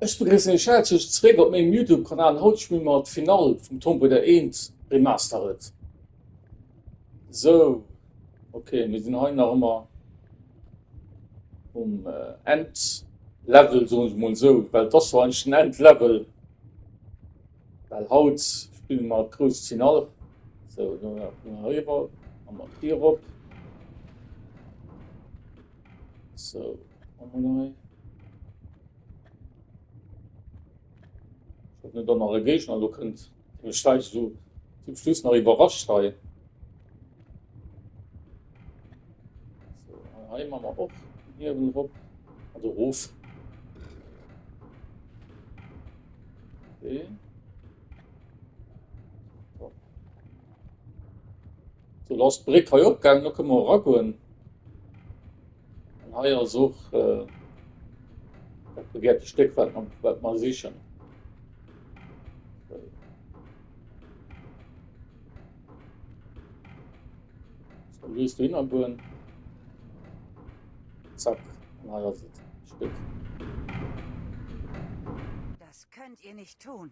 Ech begrëssen iech häerzlech zeréck op mengem Youtube Kanal. Haut spille mer d'Finall vum Tomb Raider 1 Remastered. Sou, ok mir sinn hei nach ëmmer um End Level soen ech mol sou, well et ass jo eigentlech den End Level, well haut spille mer d'grousst Finall. Sou elo nach eng Kéier hei eriwwer a mat dir erop. Sou. Net an alle Géigner lo kënnt den Scheich esou zum Schluss nach iwwerrascht hei. So, hei man mer och hiewen op an de Ruf. Okay. Sou lo ass d'Bréck hei opgaangen, lo kënne mer eragoen. An hei ass och dat begehrte Stéck, wat mer sichen. So, lies du hinnergoen. Zack, an hei ass et, d'Stéck. Das könnt ihr nicht tun!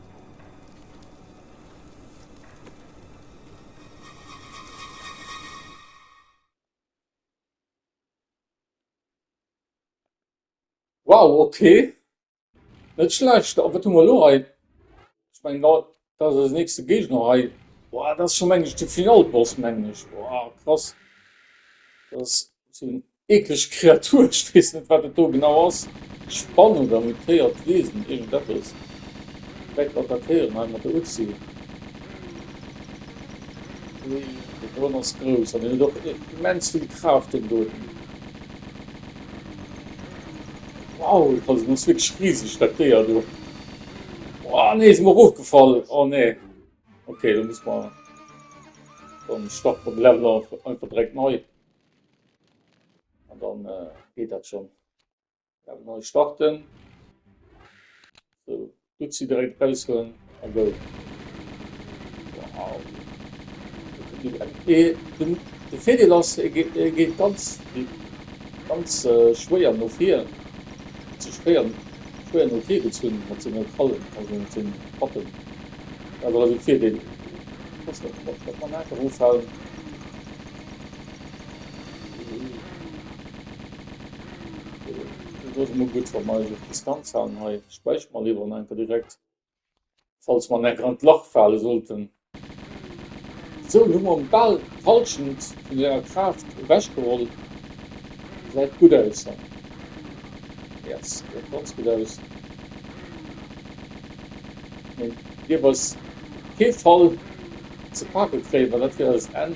Wow ok, net schlecht, a wat hu mer elo hei? Ech mengen dat ass eise nächste Géigner hei, boah dat ass scho mengen ech de Finalboss mengen ech, boah krass, dat ass. Eeklech Kreatur, ech weess net wat et do genau ass, Spann oder mutéiert Wiesen, iergend eppes dreckt d'Attackéieren hei mat der Uzi. Ui, dee Drone ass grouss an en huet och immens vill Kraaft deen doten. Wow, also en ass wierklech riseg dat Déier do. Ohh nee, sinn mer erofgefall, oh nee. Ok, do muss mer, dann starte mer de Level einfach direkt nei. An dann geet dat schon. Dann neu starten. So, gut sie direkt raus hun a go. Wow. De Fedel ass geet ganz ganz äh, schwéier no vir ze spéieren schwéier no vir gezunn mat sinn net fallen an sinn sinn pappen awer fir den man einfach ofhalen Ass emol gudd wann mer eis op Distanz halen hei. Späichert mer lewer en enker direkt falls mer en enker an d'Lach faalen sollten. Sou, elo hu mer en bal d'Halschent vun senger Kraaft ewech geholl. Säit gudd aus hei. Yes, säit ganz gudd aus. Mee dierf eis op kee Fall ze pake kréien, well dat wier eist Enn.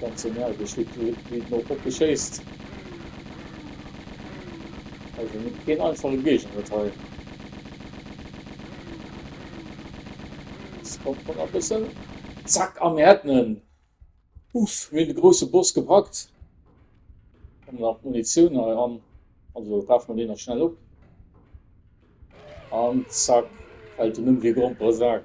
Ganz energesch wéi den och Hoppe schéisst. Also net keen einfache Géigner dat hei. Kommt man a bëssen. Zack a mir hätten en. Uff mir de grosse Boss gepackt. An nach Munitioun hei an. Also brauch man dee nach schnell op. An zack fält en ëm wéi Gromperesak.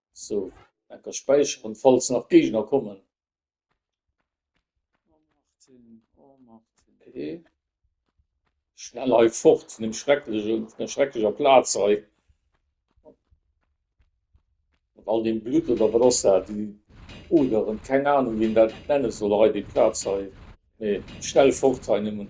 So, dat ka späicheren falls nach Géigner kommen. Okay. Schnell hei fort vun dem schrecklechen, vun der schrecklecher Plaz hei. Mat all dem Blut oder wat ass dat? Die Oderen, keng Ahnung wien dat nennen soll hei, déi Plaz hei. Nee, schnell fort hei nëmmen.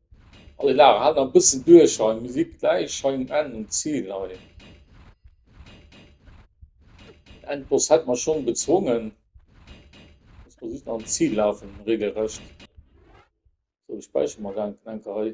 Alle Dag halt nach e bëssen duerch hei, mir si gläich hei um Enn, um Zil hei. Den Endboss hätt mer schonn bezwongen, dass mer just nach um Zil lafen, reegelrecht. Sou, ech späicheren mer dat enker hei.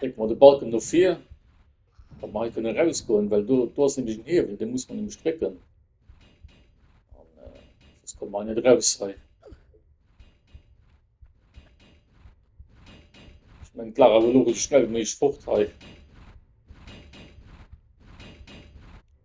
Drécke mer de Balken no vir, datt mer hei kënne erausgoen, well do ass nämlech en Hiewel, dee muss mer nämlech drécken, soss komme mer hei net eraus. Ech mengen, d'Lag ass elo esou schnell wéi méiglech fort hei.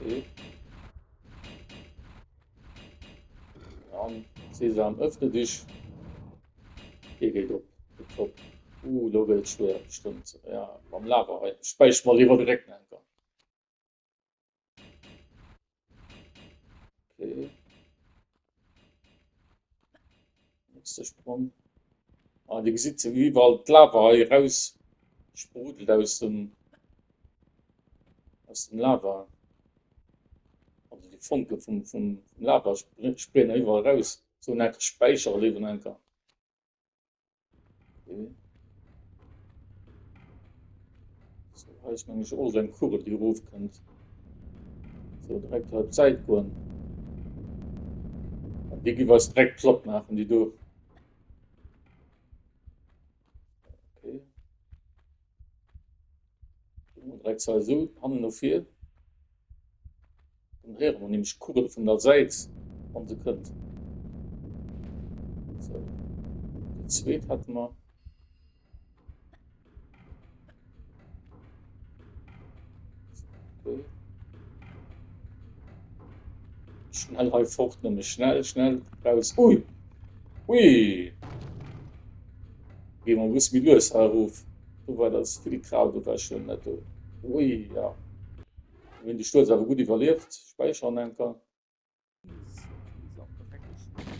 Okay. Dann Sesam, öffne dich. Hier geht op. Top. Uh, da wird schwer, bestimmt. Ja, beim Lava. Speich mal lieber direkt einfach. Okay. Nächster Sprung. Ah, die sieht so wie weil Lava hier raus sprudelt aus dem aus dem Lava. Also die Funke vom, vom Lava springen überall raus. So ein Speicherleben einfach. Eis man all den Kurre die ruf könnt so direkt halb Zeit kommen die gi was direkt flott machen die du okay. direkt so an noch viel Dann héiere mer nämlech d'Kugel vun der Säit, wann se kënnt. Sou, déi zweet hätte mer. Sou. Schnell hei fort, nämlech schnell, schnell raus. Ui! Ui! Gee mer e bësse méi lues hei erof. Do war dat Filigrau, do war schwémm net do. Ui, ja. Mir hunn de Stuerz awer gutt iwwerlieft. Späicheren enker.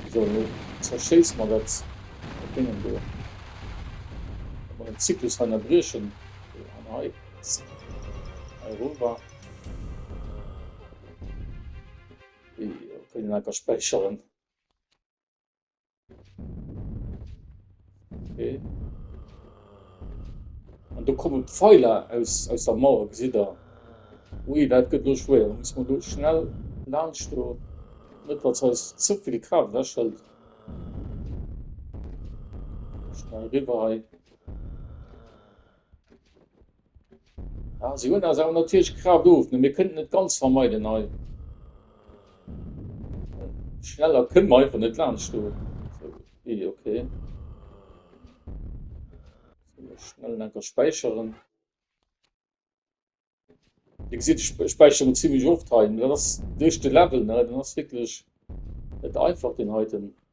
Esou, nu zerschéiss mer dat Déngen do. Datt mer den Zyklus hei ënnerbriechen. Esou, an hei. Hei erover. Ui, kënnen enker späicheren. Okay. An do kommen Pfeiler aus, aus der Mauer, gesit der. Ui, dat gëtt lo schwéier. Da muss man do schnell laanscht do. Net, datt se eis ze vill Kraaft wechhëlt. Schnell riwwer hei. Ja, se hunn eis awer natierlech grad of, mä mir kënnten et ganz vermeiden hei. Schneller kënne mer einfach net laanscht do. So, ui, okay. So, schnell enker späicheren. Dir gesitt, ech späicheren zimmlech oft hei. Dat ass duerch de Level, ne? Den ass wierklech net einfach, deen heiten.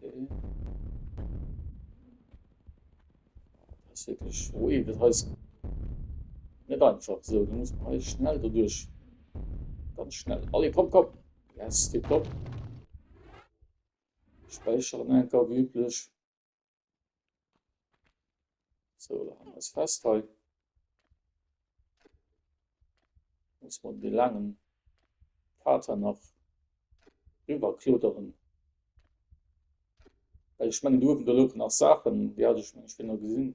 Okay. Das ist wirklich ruhig, das heißt nicht einfach so, du musst mal schnell dadurch. Ganz schnell. Alle, komm, komm. Yes, tipptopp. Speichern einfach wie üblich. So, da haben wir es fest hei. Muss man den langen Vater noch rüberklodern. Weil ich meine, du oben da noch Sachen, die hatte ich, ich bin noch gesehen.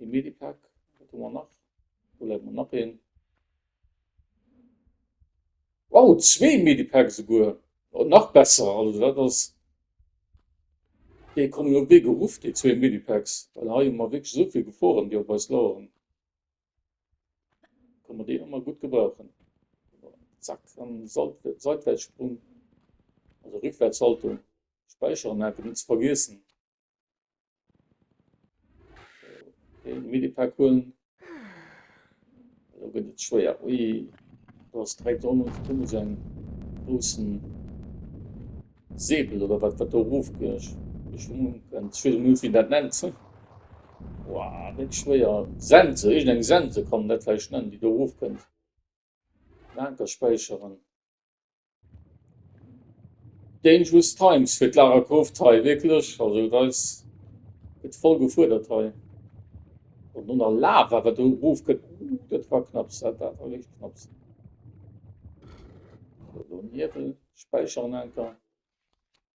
E Medipak, wat hu mer nach? Do läit mer nach een. Wow, zwee Medipak souguer! Oh, nach besser, also dat ass. Déi kommen jo wéi geruff, déi zwee Medipaks, well hei hu mer wierklech esou vill Geforen, déi op eis laueren. Kann mer déi ëmmer gutt gebrauchen. Zack, an Salt, Seitwärtssprung, also Rückwärtshaltung, späicheren, awer net ze vergiessen. Minipack hunn. Lo gëtt et schwéier. Ui, do ass direkt on uns kumme se en groussen Säbel oder wat wat do ruf geschwungen. Schwede Minute wie dat nennt. Wow, net schwéier. Sense, irgend eng Sense kommen, dat war ich nennen, die do ruf kënnt. D'Anker späicheren. Dangerous times fir d'Lara Croft hei, wierklech. Also et eis, gëtt voll gefuerdert hei. An no der Lava wat do erof gëtt, dat war knapps, dat war wierklech knapps. Niwwel späicheren anker.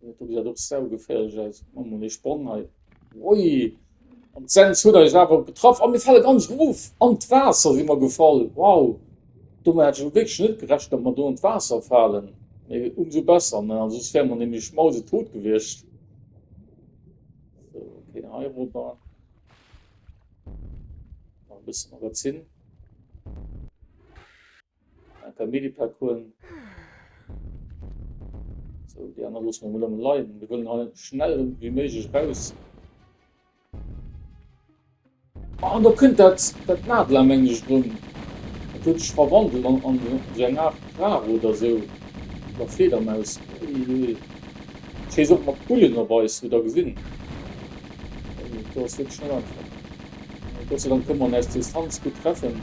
Dat gesäit och saugeféierlech aus. Mat mol ee Sprong hei. Ui! An d'Sens huet eis awer getraff. A mir fale ganz erof. An d'Waasser si mer gefall. Wow! Domat hat ech elo wierklech net gerechent, datt mer do an d'Waasser falen. Mee umso besser, ne? Well soss wäre mer nämlech mausetot gewiescht. Sou, okay, hei erobber. Nach e bëssen erof zinn. Eng paar Medipack hun. So, die aner lossen mir mol leiden. Wir wollen hei schnell wie möglich raus. Ah, da kënnt dat, dat Nadler, meng ich, run. Dat huet sich verwandelt an, an so eng Art Krab oder so. Oder Fledermaus. Uiuiui. Schee Sot mat Bullen op eis, hutt der gesinn. Dat ass wirklich net einfach. Gott sei Dank konnt man aus Distanz gudd treffen,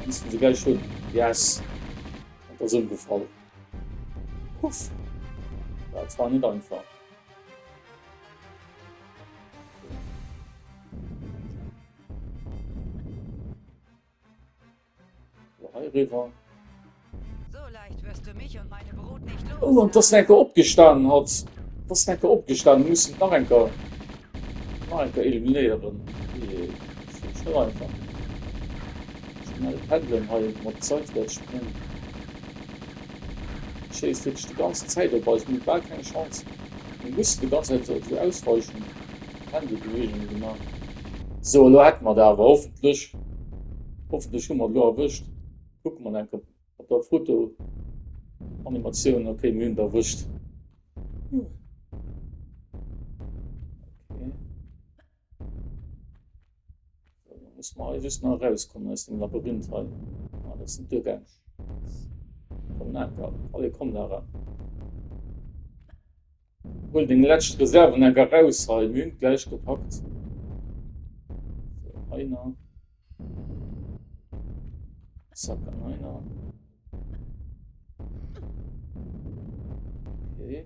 missten se gleich hun. Yes, et ass ëmgefall. Puff, dat war net einfach. Oh an d'ass en enker opgestanen hatt. D'ass en enker opgestanen. Muss en nach enker nach enker eliminéieren. Ohjee ass net einfach. Schnell peddelen hei mat Zäit wäert spréngen. Schéisst wierklech déi ganz Zäit op eis. Mir hu bal keng Chance. Mir mussen déi ganz Zäit esou ausweichen. Händebeweegunge gemaach. Sou, elo hätte mer der awer hoffentlech. Hoffentlech hu mer et elo erwëscht. Kucke mer nach eng Kéier op der Fotoanimatioun. Ok, mir hunn et erwëscht. Sou, da musse mer hei just nach erauskommen aus dem Labyrinth hei. Ah, dat sinn d'Duergäng. Komm, Nate, allez, komm da eran. Huel deng läscht Reserven enk eraus hei, mir hunn d'gläich gepackt. Sou, hei na. Zack, an hei na. Okay.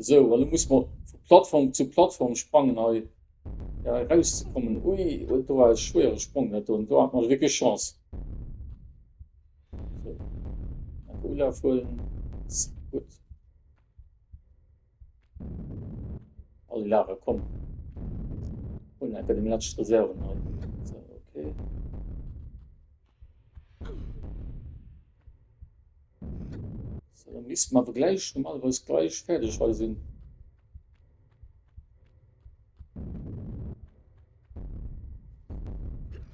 Esou, an lo musse mer vu Plattform zu Plattform sprangen hei eraus ze kommen. Ui, huet do war e schwéiere Sprong dat do, do hat mer wierklech Chance. Esou, enke Ulaf huelen, gutt. All Lager, komm, huelen enke deng lescht Reserven hei. Esou, okay. Sou dann missten mer awer gläich normalerweis gläich fäerdeg hei sinn.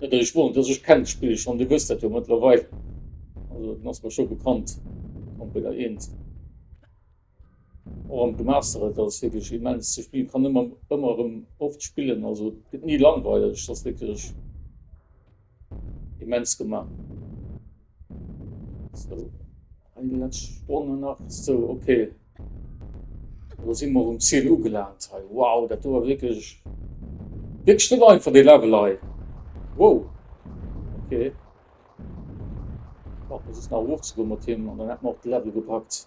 Net dass ech wonnert, dass ech kennt d'Spill schonn, dir wësst dat jo mëttlerweil, also et ass mer scho bekannt, Computer 1. Och am Gemaster, et ass wierklech immens ze spillen, kann ëmmer ëmmer erëm oft spillen, also et gëtt ni langweileg, et ass wierklech immens gemaach. Sou hei déi letzt Stonne nach, sou ok elo si mer um Ziel ugelaant hei, wow dat do war wierklech wierklech net einfach dee Level hei, wow ok brauch mer just nach erof ze goen mat him an dann hätt mer och de Level gepackt.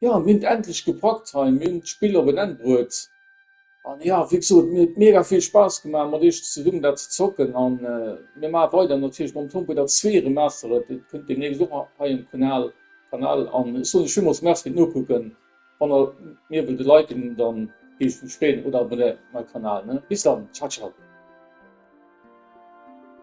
Jo, mir hunn et endlech gepackt hei, mir hunn d'Spill op en Enn bruet. An jo, wéi gesot, mir huet mega vill Spaass gemaach mat iech zesummen dat ze zocken an mir maache weider natierlech mam Tomb Raider zwee Remastered, dat kënnt deemnächst och hei um Kanal Kanal an ech soen iech villmools Merci fir d'Nokucken. Wann der mir wëllt liken, dann géif ech mech freeën oder abonnéiert mäi Kanal ne. Bis dann, ciao ciao.